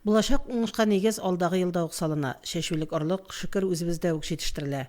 Булачак уңышка нигез алдагы елда ук салына. Чәчүлек орлык, шөкер, үзебездә үк җитештерелә.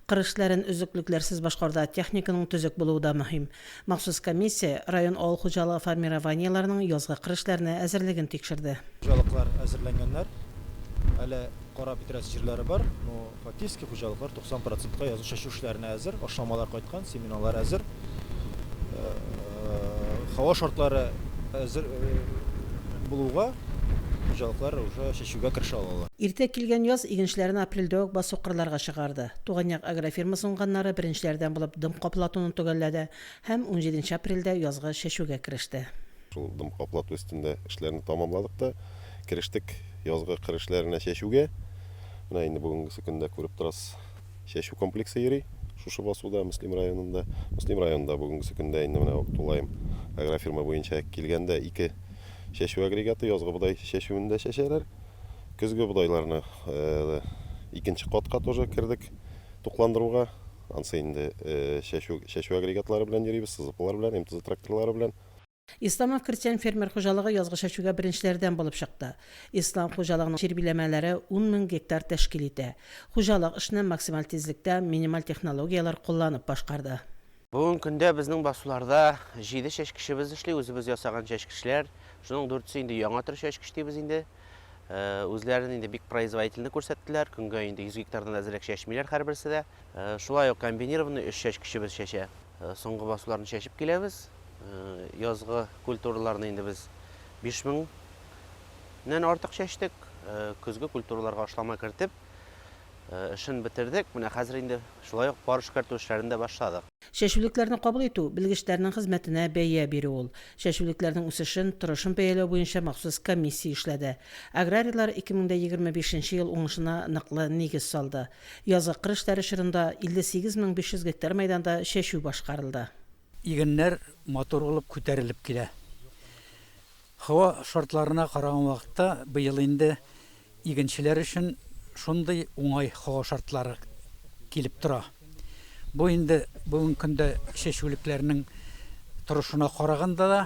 Кыр эшләрен өзлеклекләрсез башкаруда техниканың төзек булуы да мөһим. Махсус комиссия район авыл хуҗалыгы формированиеләренең язгы кыр эшләренә әзерлеген тикшерде. Хуҗалыклар әзерләнгәннәр, әле карап бетерәсе җирләре бар. Фатирский хуҗалыклар 90 процентка язгы чәчү эшләренә әзер, ашламалар кайткан, семеналар әзер. Һава шартлары әзер булуга хуҗалыклар уже чәчүгә керешә алалар. Иртә килгән яз игенчеләрне апрельдә үк басу кырларга чыгарды. Туган як агрофирмасы уңганнары беренчеләрдән булып дым каплатуны төгәлләде һәм унҗиденче апрельдә язгы чәчүгә кереште. Шул дым каплату өстендә эшләрне тәмамладык та керештек язгы кыр эшләренә чәчүгә. Менә инде бүгенгесе көндә күреп торасыз, чәчү комплексы йөри шушы басуда, Мөслим районында. Мөслим районында бүгенгесе көндә инде менә тулаем агрофирма буенча килгәндә ике чәчү агрегаты язгы бодай чәчүендә чәчәләр. Көзге бодайларны икенче катка тоже кердек тукландыруга. Ансы инде чәчү агрегатлары белән йөрибез, сызыклар белән, МТЗ тракторлары белән. Исламов крестьян фермер хуҗалыгы язгы чәчүгә беренчеләрдән булып чыкты. Ислам хуҗалыгының җир биләмәләре ун мең гектар тәшкил итә. Хуҗалык эшне максималь тизлектә, минималь технологияләр кулланып башкарды. Бүгенге көндә безнең басуларда җиде чәчкечебез эшли, үзебез ясаган чәчкечләр. Шуның дүртесе инде яңа төр чәчкеч дибез инде. үзләрен инде бик производительный күрсәттеләр. Көнгә инде 100 гектардан әзрәк чәчмиләр һәрберсе дә. Шулай ук комбинированный өч чәчкечебез чәчә. Соңгы басуларны чәчеп киләбез. Язгы культураларны инде без 5000-нән артык чәчтек. Көзге культураларга ашлама кертеп, эшен бетердек. Менә хәзер инде шулай ук пар эшкәртү эшләрен дә башладык. Чәчүлекләрне кабул итү, белгечләрнең хезмәтенә бәя бирү ул. Чәчүлекләрнең үсешен, торышын бәяләү буенча махсус комиссия эшләде. Аграрийлар 2025 нче ел уңышына ныклы нигез салды. Язгы кыр эшләре чорында 58 мең 500 гектар мәйданда чәчү башкарылды. Игеннәр матур булып күтәрелеп килә. Һава шартларына караган вакытта, быел инде игенчеләр өчен шундый уңай һава шартлары килеп тора. Бу инде бүгенге көндә чәчүлекләрнең торышына караганда да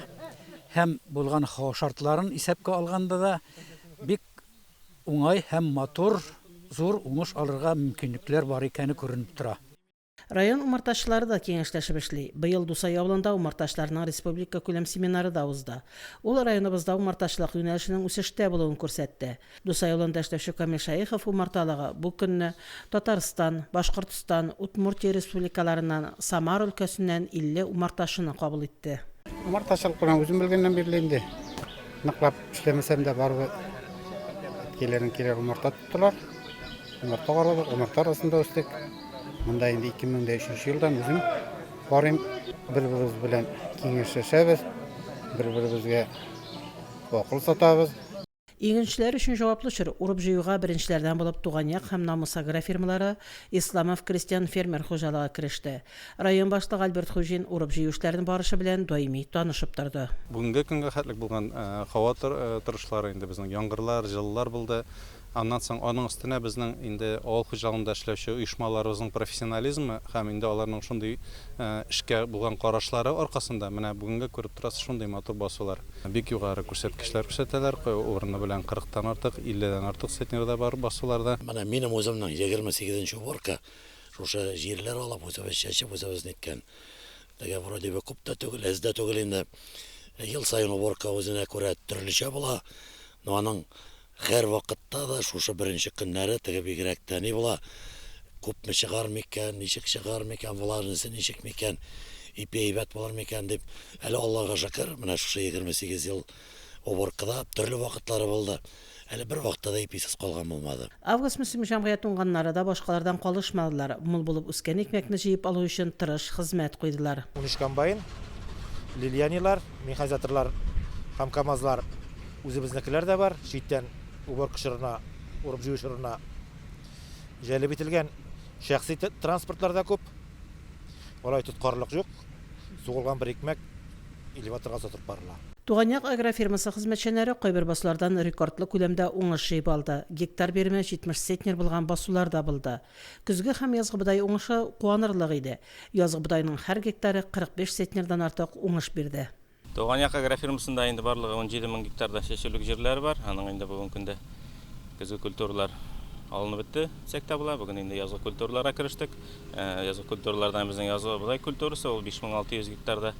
һәм булган һава шартларын исәпкә алганда да бик уңай һәм матур, зур уңыш алырга мөмкинлекләр бар икәне күренеп тора. Район умартачылары да киңәшләшеп эшли. Быел Дусай авылында умартачыларның республикакүләм семинары да узды. Ул районыбызда умартачылык юнәлешенең үсештә булуын күрсәтте. Дусай авылында эшләүче Камил Шәехов умарталыгы бу көнне Татарстан, Башкортстан, Удмуртия республикаларыннан, Самар өлкәсеннән 50 умартачыны кабул итте. Умартачылык белән үзем белгәннән бирле инде, ныклап эшләмәсәм дә, барыбер әткәйләрем килә умарта Тулар. Умырта карадык, умырта арасында үстек. Монда инде 2003 елдан үзем барыйм. Бер-беребез белән киңәшләшәбез, бер-беребезгә акыл сатабыз. Игенчеләр өчен җаваплы чор. Урып-җыюга беренчеләрдән булып Туган як һәм Намус агрофирмалары, Исламов крестьян-фермер хуҗалыгы кереште. Район башлыгы Альберт Хуҗин урып-җыю эшләрен барышы белән даими танышып торды. Бүгенге көнгә хәтлек булган һава торышлары инде безнең яңгырлар, җылылар булды. Аннан соң аның өстенә безнең инде авыл хуҗалыгында эшләүче оешмаларыбызның профессионализмы һәм инде аларның шундый эшкә булган карашлары аркасында менә бүгенге күреп торасыз шундый матур басулар. Бик югары күрсәткечләр күрсәтәләр, урыны белән кырыктан артык, илледән артык центнер да бар басуларда. Менә минем үземнең егерме сигезенче уборка. Шушы җирләр алып үзебез чәчеп, үзебез ниткән. Теге вроде бы күп тә түгел, әз дә түгел инде. Ел саен уборка үзенә күрә төрлечә була. Но аның һәр вакытта да шушы беренче көннәре теге бигрәк тә ни була? Күпме чыгар микән, ничек чыгар микән, влажность ничек микән, ипи әйбәт булыр микән дип. Әле Аллага шөкер, менә шушы 28 ел Уборкада төрле вакытлары булды. Әле бер вакытта да иписез калган булмады. Август мөслим җәмгыять уңганнары да башкалардан калышмадылар, мул булып үскән икмәкне җыеп алу өчен тырыш хезмәт куйдылар. Унөч комбайн, лильянилар, механизаторлар һәм камазлар, үзебезнекеләр дә бар, читтән уборка чорына, урып-җыю чорына җәлеп ителгән шәхси транспортлар да күп. Алай тоткарлык юк, сугылган бер икмәк. элеваторга озатып барыла. Туган як агрофирмасы хезмәтчәннәре кайбер басулардан рекордлы күләмдә уңыш җыеп алды. Гектар биреме 70 центнер булган басулар да булды. Көзге һәм язгы бодай уңышы куанырлык иде. Язгы бодайның һәр гектары 45 центнердан артык уңыш бирде. Туган як агрофирмасында инде барлыгы унҗиде мең гектарда чәчүлек җирләре бар. Аның инде бүген көндә көзге культуралар алынып бетте, дисәк тә була. Бүген инде язгы культураларга керештек. Язгы культуралардан безнең язгы бодай культурасы ул 5600 гектарда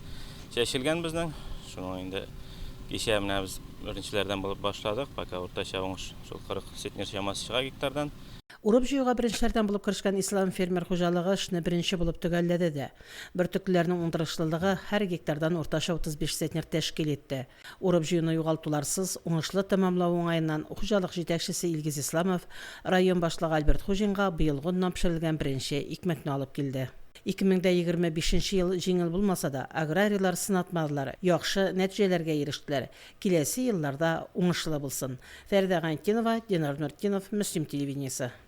чәчелгән безнең. Шуның инде кичә менә без беренчеләрдән булып башладык. Пока уртача уңыш шул 40 центнер чамасы чыга гектардан. Урып-җыюга беренчеләрдән булып керешкән Ислам фермер хуҗалыгы эшне беренче булып төгәлләде дә. Бөртеклеләрнең уңдырышлылыгы һәр гектардан уртача 35 центнер тәшкил итте. Урып-җыюны югалтуларсыз, уңышлы тәмамлау уңаеннан хуҗалык җитәкчесе Илгиз Исламов район башлыгы Альберт Хуҗинга быелгы оннан пешерелгән беренче икмәкне алып килде. 2025 ел җиңел булмаса да, аграрийлар сынатмадылар, яхшы нәтиҗәләргә ирештеләр. Киләсе еллар да уңышлы булсын. Фәридә Гайнетдинова, Динар Нуртдинов, Мөслим телевидениесе.